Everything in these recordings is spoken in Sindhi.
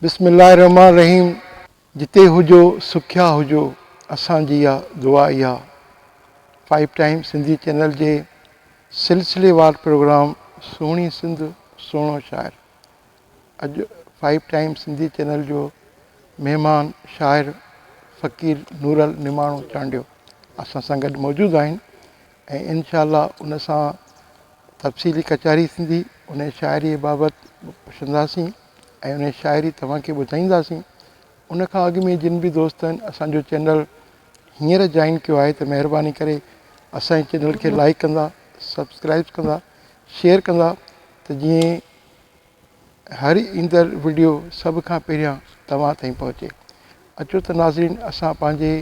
بسم الله الرحمٰن الرحيم جتي هجو سکيا هجو اسان جي آ دعا اها فائيو ٽائيم سنڌي چينل جي سلسلي وار پروگرام سهڻي سنڌ سهڻو شاعر اڄ فائيو ٽائيم سنڌي چينل جو مهمان شاعر فقير نورل نماڻو چانڊيو اسان سان گڏ موجود آهن ۽ انشاء الله ان سان تفصيلي ڪچهري ٿيندي ان شاعري بابت پڇنداسين ۽ انهي شاعري توهان کي ٻڌائينداسين ان کان اڳ ۾ جن به دوستن اسان جو چينل هينئر جوائن ڪيو آهي ته مهرباني ڪري اسان جي چينل کي لائيڪ ڪندا سبسڪرائيب ڪندا شيئر ڪندا ته جيئن هر ايندڙ وڊيو سڀ کان پهريان توهان تائين پهچي اچو ته ناظرين اسان پنهنجي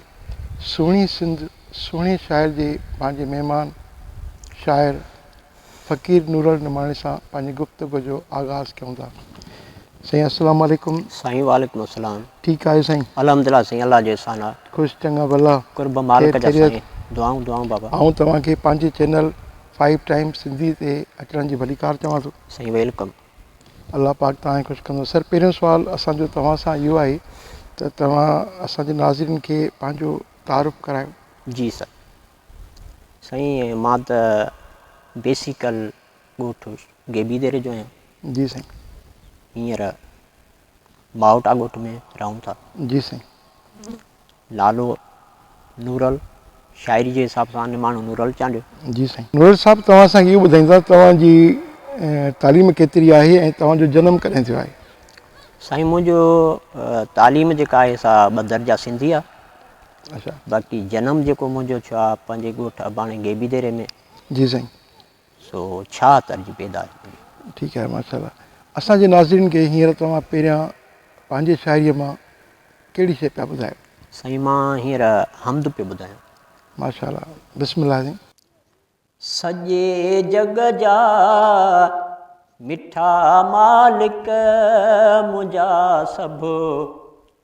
سهڻي سنڌ سهڻي شاعر جي پنهنجي مهمان شاعر فقير نورل نماڻي سان پنهنجي گفتگو جو آغاز ڪيون ٿا سائين السلام عليڪم. سائين وعليڪم السلام. ٺيڪ آهيو سائين. الحمدلله سائين الله جو احسان آ. خوش چڱا ڀلا. قرب مالڪ جا سائين دعائون دعائون بابا. آئون توهان کي پنهنجي چينل فائيو ٽائيم سنڌي تي اچڻ جي ڀليڪار چوان ٿو. سائين ويلڪم. الله پاڪ توهان کي خوش ڪندو. سر پهريون سوال اسان جو توهان سان اهو آهي ته توهان اسان جي ناظرين کي پنهنجو تعارف ڪرايو. جي سر سائين مان ته بيسيڪل ڳوٺ گيبي ديري جو آهيان. جي سائين. هينئر ماوٽ آڳوٺ ۾ رهون ٿا. جي سائين. نالو نورل، شاعري جي حساب سان نماڻو نورل چانڊيو. جي سائين. نورل صاحب توهان اسان کي اهو ٻڌائيندا ته توهان جي تعليم ڪيتري آهي ۽ توهان جو جنم ڪڏهن ٿيو آهي؟ سائين منهنجو تعليم جيڪا آهي سا ٻه درجا سنڌي آهي. اچا. باقي جنم جيڪو منهنجو ٿيو آهي پنهنجي ڳوٺ اباڻي گيبي ديري ۾. جي سائين. سو ڇا ترجي پيدا ٿئي. ٺيڪ آهي ماشاء الله اسان جي ناظرين کي هينئر توهان پهريان پنهنجي شاعري مان ڪهڙي شئي پيا ٻڌايو. سائين مان هينئر حمد پيو ٻڌايان. ماشاء الله بسم الله سائين. سڄي جڳ جا مٺا مالڪ منهنجا سڀ.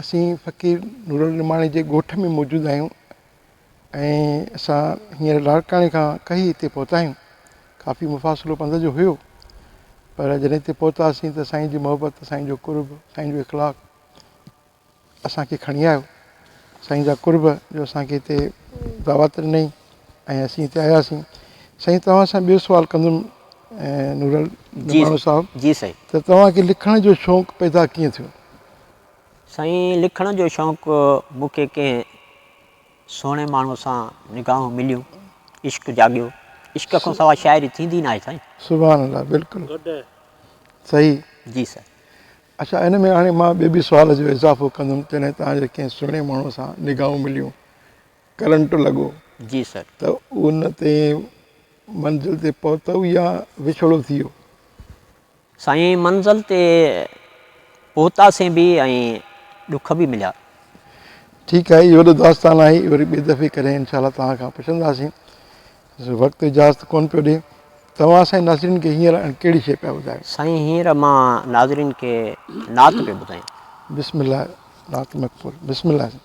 اسين فقير نورالدين نعماڻي جي ڳوٺ ۾ موجود آهيون ۽ اسان هينئر لاڙڪاڻي کان ڪهي هتي پهتا آهيون. ڪافي مفاصلو پنڌ جو هيو پر جڏهن هتي پهتاسين ته سائين جي محبت، سائين جو قرب، سائين جو اخلاق اسان کي کڻي آيو. سائين جا قرب جو اسان کي هتي دعوت ڏنئي ۽ اسين هتي آياسين. سائين توهان سان ٻيو سوال ڪندم نورالدين نعماڻو صاحب ته توهان کي لکڻ جو شوق پيدا ڪيئن ٿيو؟ سائين لکڻ جو شوق مون کي ڪنهن سهڻي ماڻهو سان نگاهون مليون عشق جاڳيو عشق کان سواء شاعري ٿيندي ناهي سائين. سبحان الله بلڪل صحيح. جي سر. اڇا ان ۾ هاڻي مان ٻي به سوال جو اضافو ڪندم جڏهن توهان جي ڪنهن سهڻي ماڻهو سان نگاهون مليون ڪرنٽ لڳو جي سر. ته ان تي منزل تي پهتؤ يا وڇوڙو ٿي ويو؟ سائين منزل تي پهتاسين به ۽ ڏک به مليا. ٺيڪ آهي هي وڏو داستان آهي وري ٻي دفعي ڪڏهن انشاء الله توهان کان پڇنداسين وقت اجازت ڪون پيو ڏي. توهان سائين ناظرين کي هينئر اڻ ڪهڙي شيء پيا ٻڌايو؟ سائين هينئر مان ناظرين کي نعت پيو ٻڌايان. بسم الله نعت مقبول بسم الله سائين.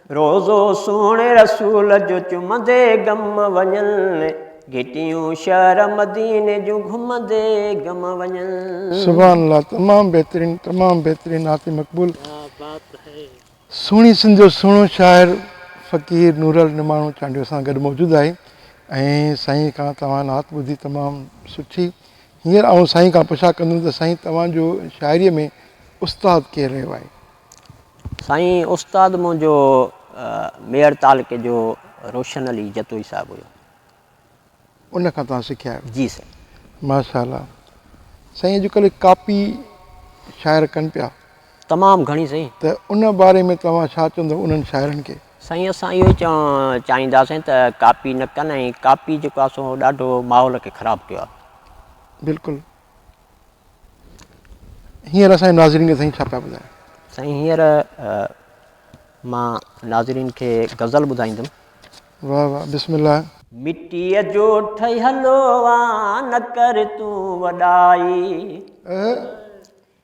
روضو سهڻي رسول جو چمندي گم وڃن، گهٽيون شهر مديني جون گهمندي گم وڃن. سبحان الله تمام بهترين تمام بهترين نعت مقبول سهڻي سنڌ جو سهڻو شاعر فقير نورل نماڻو چانڊيو سان گڏ موجود آهي ۽ سائين کان توهان نعت ٻڌي تمام سٺي هينئر آئون سائين کان پڇا ڪندم ته سائين توهان جو شاعري ۾ استاد ڪير رهيو آهي سائين استاد منهنجو ميڙ تعلقي جو روشن علي جتوئي صاحب هيو. ان کان توهان سکيا آهيو. جي سائين. ماشاءالله. سائين اڄ ڪلهه ڪاپي شاعر ڪن پيا. تمام گهڻي سائين. ته ان باري ۾ توهان ڇا چوندو انهن شاعرن کي؟ سائين اسان اهو ئي چوڻ چاهيندا سائين ته ڪاپي نه ڪن ۽ ڪاپي جيڪو آهي سو ڏاڍو ماحول کي خراب ڪيو آهي. بلڪل. هينئر اسان جي ناظرين کي سائين ڇا پيا ٻڌائين؟ سائين هينئر مان ناظرين کي غزل ٻڌائيندم. واھ واھ بسم الله. مٽيء جو ٺهيل آن نه ڪر تون وڏائي.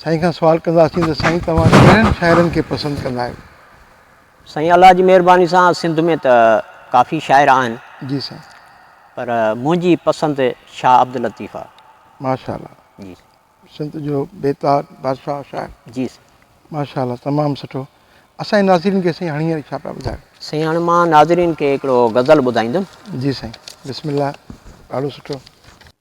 سائين کان سوال ڪنداسين ته سائين توهان ڪهڙن شاعرن کي پسند ڪندا آهيو؟ سائين الله جي مهرباني سان سنڌ ۾ ته ڪافي شاعر آهن. جي سائين. پر منهنجي پسند شاهه عبداللطيف آ. ماشاء الله. جي سائين. سنڌ جو بيتار بادشاهه شاعر. جي سائين. ماشاء الله تمام سٺو. اسان جي ناظرين کي سائين هاڻي هينئر ڇا پيا ٻڌايو؟ سائين هاڻي مان ناظرين کي هڪڙو غزل ٻڌائيندم. جي سائين بسم الله ڏاڍو سٺو.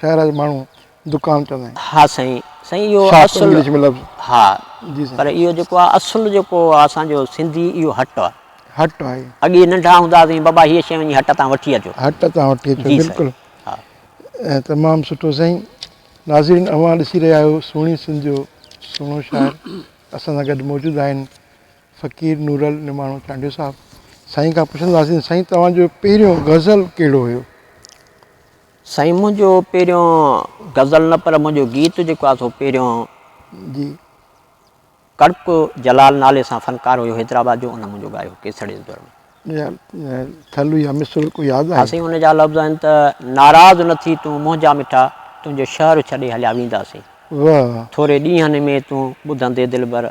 شهر جا ماڻهو دڪان چوندا آهن. ها سائين سائين اهو شاپ اصل انگلش ۾ لفظ ها جي سائين پر اهو جيڪو آهي اصل جيڪو آهي اسان جو سنڌي اهو هٽ آهي هٽ آهي اڳي ننڍا هوندا هئاسين بابا هيء شي وڃي هٽ تان وٺي اچو هٽ تان وٺي اچو جي سائين بلڪل ها ۽ تمام سٺو سائين ناظرين اوهان ڏسي رهيا آهيو سهڻي سنڌ جو سهڻو شاعر اسان سان گڏ موجود آهن فقير نورل نماڻو چانڊيو صاحب سائين کان پڇنداسين سائين توهان جو پهريون غزل ڪهڙو هيو. سائين منهنجو پهريون غزل نه پر منهنجو گيت جيڪو آهي سو پهريون جي ڪڙڪ جلال نالي سان فنڪار هيو حيدرآباد جو ان منهنجو ڳايو ڪيسڙي جي دور ۾ ٿل يا مصرع ڪو ياد آهي. ها سائين ان جا لفظ آهن ته ناراض نه ٿي تون منهنجا مٺا تنهنجو شهر ڇڏي هليا وينداسين واه. ٿوري ڏينهن ۾ تون ٻڌندي دلبر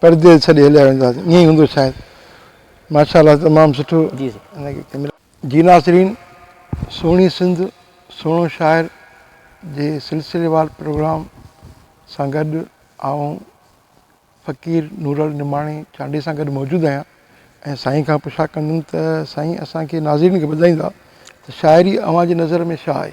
پرديس ڇڏي هليا وينداسين ائين ئي هوندو شايد ماشاء الله تمام سٺو جي ناصرين سهڻي سنڌ سهڻو شاعر جي سلسليوار پروگرام سان گڏ آئون فقير نورل نماڻي چانڊئي سان گڏ موجود آهيان ۽ سائين کان پڇا ڪندم ته سائين اسان کي ناظرين کي ٻڌائيندا ته شاعري اوهان جي نظر ۾ ڇا آهي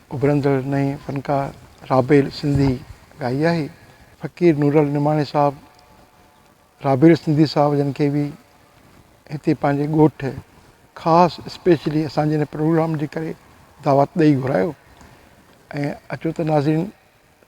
اڀرندڙ نئين فنڪار رابيل سنڌي ڳائي آهي. فقير نورل نماڻي صاحب رابيل سنڌي صاحب جن کي به هتي پنهنجي ڳوٺ خاص اسپيشلي اسان جي هن پروگرام جي ڪري دعوت ڏئي گهرايو ۽ اچو ته ناظرين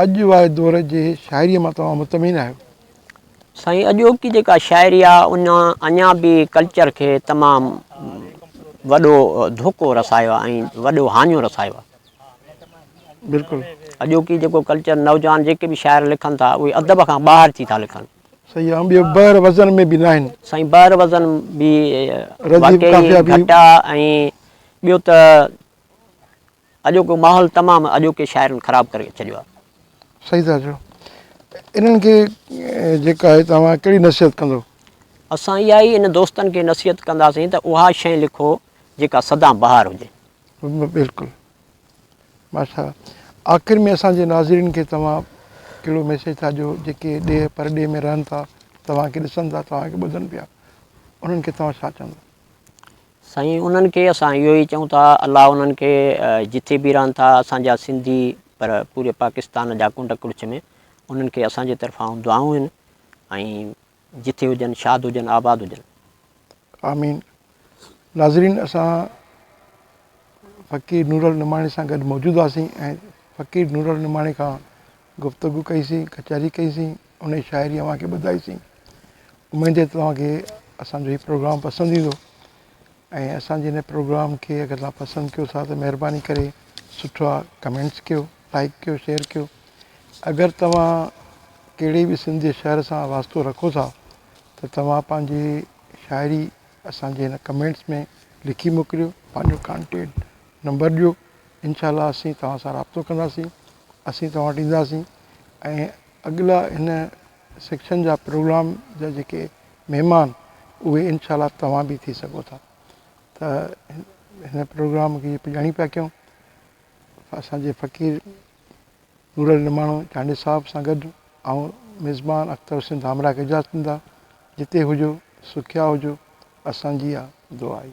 اڄ واري دور جي شاعريء مان توهان مطمئن آهيو؟ سائين اڄوڪي جيڪا شاعري آ ان اڃا به ڪلچر کي تمام وڏو ڌوڪو رسايو آ ۽ وڏو هاڃو رسايو آ. بلڪل. اڄوڪي جيڪو ڪلچر نوجوان جيڪي به شاعر لکن ٿا اهي ادب کان ٻاهر ٿي ٿا لکن. صحيح آ ٻيو بحر وزن ۾ به ناهن. سائين بحر وزن به واقعي گهٽ آ ۽ ٻيو ته اڄوڪو ماحول تمام اڄوڪي شاعرن خراب ڪري ڇڏيو آ. صحيح ٿا چئو انهن کي جيڪا آهي توهان ڪهڙي نصيحت ڪندو. اسان اها ئي ان دوستن کي نصيحت ڪنداسين ته اها شئي لکو جيڪا سدا بهار هجي. بلڪل ماشاء الله آخر ۾ اسان جي ناظرين کي توهان ڪهڙو ميسيج ٿا ڏيو جيڪي ڏيهه پرڏيهه ۾ رهن ٿا توهان کي ڏسن ٿا توهان کي ٻڌن پيا انهن کي توهان ڇا چوندا. سائين انهن کي اسان اهو ئي چئون ٿا الله انهن کي جٿي به رهن ٿا اسان جا سنڌي پر پوري پاڪستان جا ڪنڊ ڪڙڇ ۾ انهن کي اسان جي طرفان دعائون آهن ۽ جٿي هجن شاد هجن آباد هجن. آمين ناظرين اسان فقير نورل نماڻي سان گڏ موجود هئاسين ۽ فقير نورل نماڻي کان گفتگو ڪئي سين، ڪچهري ڪئي سين، انهي شاعري اوهان کي ٻڌائي سين. اميد آهي ته توهان کي اسان جو هي پروگرام پسند ايندو ۽ اسان جي هن پروگرام کي اگر توهان پسند ڪيو ٿا ته مهرباني ڪري سٺا ڪمينٽس ڪيو، لائيڪ ڪيو، شيئر ڪيو. اگر توهان ڪهڙي به سنڌ جي شهر سان واسطو رکو ٿا ته توهان پنهنجي شاعري اسان جي هن ڪمينٽس ۾ لکي موڪليو، پنهنجو ڪانٽينٽ نمبر ڏيو. انشاء الله اسين توهان سان رابطو ڪنداسين اسين توهان وٽ اينداسين ۽ اڳلا هن سيڪشن جا پروگرام جا جيڪي مهمان اهي انشاء الله توهان به ٿي سگهو ٿا ته هن پروگرام کي پڄاڻي پيا ڪيون اسانجي فقير نور علي نماڻو چانڊيو صاحب سان گڏ آئون ميزبان اختر حسين ڌامراهه کي اجازت ڏيندا جتي هجو سکيا هجو اسانجي اها دعا آهي